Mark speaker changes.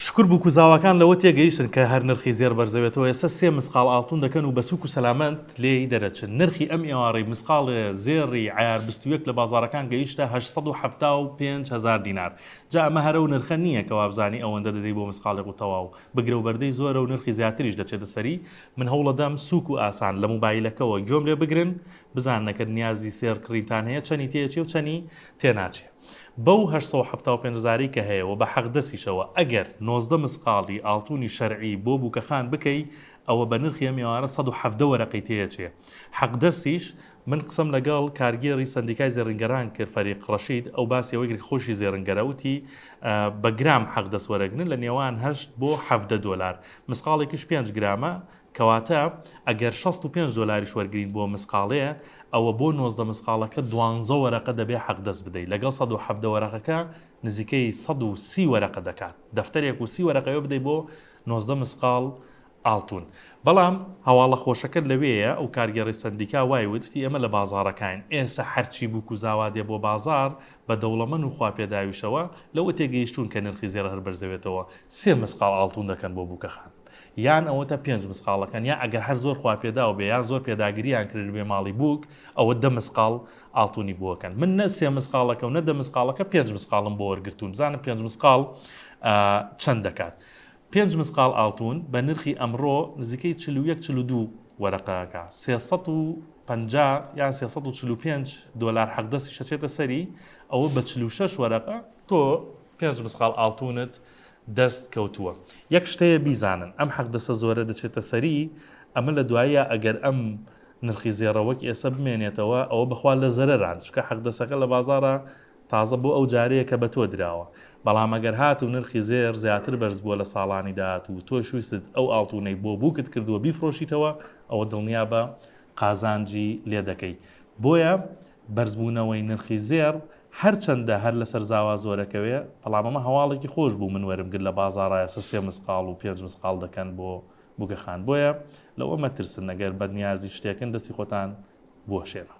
Speaker 1: شکور بوکوزاواکان لەوە تێگەیشتن کە هەر نرخی زێڕ بەرزەوێتەوە ئێستا سێ مسقاڵ ئاڵتون دەکەن و بە سوک و سەلامەت لێی دەرەچن نرخی ئەم ئێوارەی مسقاڵێ زێڕی عەیار بیست و یەک لە بازاڕەکان گەیشتە هەشت سەد و حەفتا و پێنج هەزار دینار جا ئەمە هەر ئەو نرخە نییە کە وابزانی ئەوەندە دەدەی بۆ مسقاڵێک و تەواو بگرە و بەردەی زۆرە و نرخی زیاتریش دەچێتە سەری من هەوڵەدەم سوک و ئاسان لە موبایلەکەوە گوێم لێ بگرن بزاننە کە نیازی سێڕ کڕینتان هەیە چەنی تێچێ و چەنی تێناچێ. بەو هەشت سەد و حەفتا و پێنج هەزارەی کە هەیە و بە حەقدەسیشەوە ئەگەر نۆزدە مسقاڵی ئاڵتونی شەرعی بۆ بوکەخان بکەی ئەوە بە نرخی ئەم ئێوارە سەد و حەڤدە وەرەقەی تێ ئەچێ حەقدەسیش من قسەم لەگەڵ کارگێڕی سەندیکای زێڕینگەران کرد فەریق ڕەشید ئەو باسی ئەوەی کرد کە خۆیشی زێڕنگەرە وتی بە گرام حەقدەس وەرەگرن لە نێوان هەشت بۆ حەڤدە دۆلار مسقاڵێکیش پێنج گرامە کەواتە ئەگەر شەست و پێنج دۆلاریش وەرگرین بۆ مسقاڵێ ئەوە بۆ نۆزدە مسقاڵەکە دوانزە وەرەقە دەبێ حەقدەست بدەی لەگەڵ سەد و حەڤدە وەرەقەکە نزیکەی سەد و سی وەرەقە دەکات دەفتەرێک و سی وەرەقەیۆ بدەی بۆ نۆزدە مسقاڵ ئاڵتون بەڵام هەواڵە خۆشەکە لەوێیە ئەو کارگێڕی سەندیکا وای وت وتی ئێمە لە بازاڕەکاین ئێسە هەرچی بووک و زاوا دێ بۆ بازاڕ بە دەوڵەمەن و خواپێداویشەوە لەوە تێگەیشتوون کە نرخی زێڕ هەر بەرزەوێتەوە سێ مسقاڵ ئاڵتون دەکەن بۆ بووکەخان یان ئەوەتا پێنج مسقاڵەکان یان ئەگەر هەر زۆر خواپێداو بێ یان زۆر پێداگرییان کردبێ ماڵی بووک ئەوە دە مسقاڵ ئاڵتونی بووەکەن من نە سێ مسقاڵەکەو نە دە مسقاڵەکە پێنج مسقاڵم بۆ وەرگرتوون بزانم پێنج مسقاڵ چەند دەکات پێنج مسقاڵ ئاڵتون بە نرخی ئەمڕۆ نزیکەی چل و یەک چل و دوو وەرەقەکە سێ سەد و پەنجا یان سێ سەد و چل و پێنج دۆلار حەقدەستی شەچێتە سەری ئەوە بە چل و شەش وەرەقە تۆ پێنج مسقاڵ ئاڵتونت دەست کەوتووە یەک شتەیە بیزانن ئەم حەقدەسە زۆرە دەچێتە سەری ئەمە لە دواییە ئەگەر ئەم نرخی زێڕە وەک ئێسە بمێنێتەوە ئەوە بەخوا لە زەرەران چونکە حەقدەسەکە لە بازاڕا تازە بۆ ئەو جارەیە کە بە تۆ دراوە بەڵام ئەگەر هاتوو نرخی زێر زیاتر بەرز بووە لە ساڵانی داهاتوو و تۆش ویستت ئەو ئاڵتونەی بۆ بووکت کردووە بیفرۆشیتەوە ئەوە دڵنیابە قازانجی لێ دەکەی بۆیە بەرزبوونەوەی نرخی زێڕ هەرچەندە هەر لەسەر زاوا زۆرەکەوێ، بەڵام ئەمە هەواڵێکی خۆش بوو، من وەرم گرت لە بازاڕا ئێستا سێ مسقاڵ و پێنج مسقاڵ دەکەن بۆ بووکەخان، بۆیە لەوە مەترسن ئەگەر بەنیازی شتێکن دەستی خۆتان بوەشێنن.